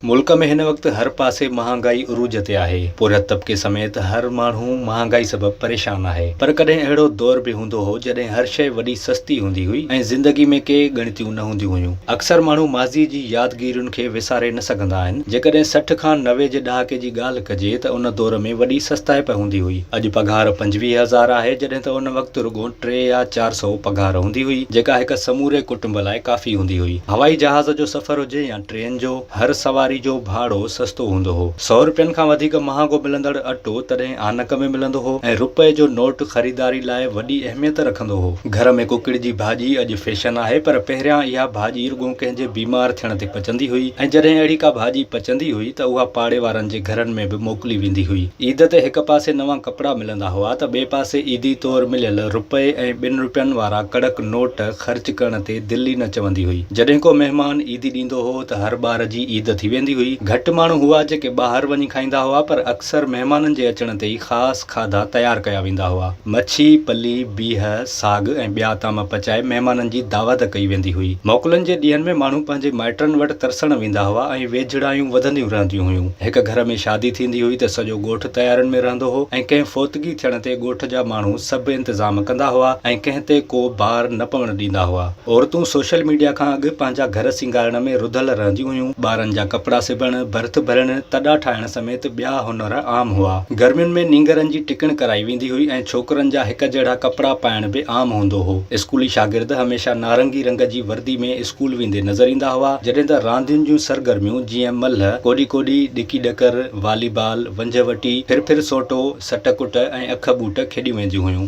ملڪ ۾ هن وقت هر پاسي مهانگائي عروج تي آهي، پورهيت طبقي سميت هر ماڻهو مهانگائي سبب پريشان آهي، پر ڪڏهن اهڙو دور به هوندو هو جڏهن هر شيء وڏي سستي هوندي هئي ۽ زندگي ۾ ڪي ڳڻتيون نه هونديون هيون. اڪثر ماڻهو ماضي جي يادگيرين کي وساري نه سگهندا آهن. جيڪڏهن سٺ کان نوي جي ڏهاڪي جي ڳالهه ڪجي ته ان دور ۾ وڏي سستائپ هوندي هئي. اڄ پگهار پنجويهه هزار آهي جڏهن ته ان وقت رڳو ٽي يا چار سئو پگهار هوندي هئي جيڪا هڪ سموري ڪٽنب لاء ڪافي هوندي هئي. هوائي جهاز جو سفر هجي يا ٽرين جو هر سواري جو ڀاڙو سستو هوندو هو. سؤ روپين کان وڌيڪ مهانگو ملندڙ اٽو تڏهن آنڪ ۾ ملندو هو ۽ روپئي جو نوٽ خريداري لاء وڏي اهميت رکندو هو. گهر ۾ ڪڪڙ جي ڀاڄي اڄ فيشن آهي پر پهريان اها ڀاڄي رڳو ڪنهن جي بيمار ٿيڻ تي پچندي هئي ۽ جڏهن اهڙي ڪا ڀاڄي پچندي هئي ته اها پاڙي وارن جي گهرن ۾ به موڪلي ويندي هئي. عيد تي هڪ پاسي نوان ڪپڙا ملندا هئا ته ٻئي پاسي عيدي طور مليل روپئي ۽ ٻن روپين وارا ڪڙڪ نوٽ خرچ ڪرڻ تي دل ئي نه چوندي هئي. جڏهن ڪو مهمان عيدي ڏيندو هو ته هر ٻار جي عيد ٿي ويندي هئي. گهٽ ماڻهو هئا جيڪي ٻاهر وڃي کائيندا هئا پر اڪثر مهمانن جي اچڻ تي ئي خاص کاڌا تيار ڪيا ويندا هئا. مڇي، پلي، بيهه، ساڳ ۽ ٻيا طعام پچائي مهمانن جي دعوت ڪئي ويندي هئي. موڪلن جي ڏينهن ۾ ماڻهو پنهنجي مائٽن وٽ ترسڻ ويندا هئا ۽ ويجهڙايون وڌنديون رهنديون هيون. هڪ گهر ۾ شادي ٿيندي هئي ته سڄو ڳوٺ تيارين ۾ رهندو هو ۽ ڪنهن فوتگي ٿيڻ تي ڳوٺ جا ماڻهو سڀ انتظام ڪندا هئا ۽ ڪنهن تي ڪو بار نه پوڻ ڏيندا هئا. عورتون سوشل ميڊيا کان اڳ پنهنجا گهر سينگارڻ ۾ رڌل رهنديون هيون. ٻارن جا ڪپڙا سبڻ، برٿ ڀرڻ، تڏا ٺاهڻ سميت ٻيا هنر عام هئا. گرمين ۾ نينگرن جي ٽڪڻ ڪرائي ويندي هئي ۽ ڇوڪرن جا هڪ جهڙا ڪپڙا پائڻ به عام هوندو هو. اسڪولي شاگرد هميشه نارنگي رنگ جي وردي ۾ اسڪول ويندي نظر ايندا هئا، جڏهن ته راندين جون سرگرميون جيئن ملهه، ڪوڏي ڪوڏي، ڏڪي ڏڪر، والي بال، ونجهه وٽي، ڦر ڦر سوٽو، سٽ ڪٽ ۽ اک ٻوٽ کيڏيون وينديون هيون.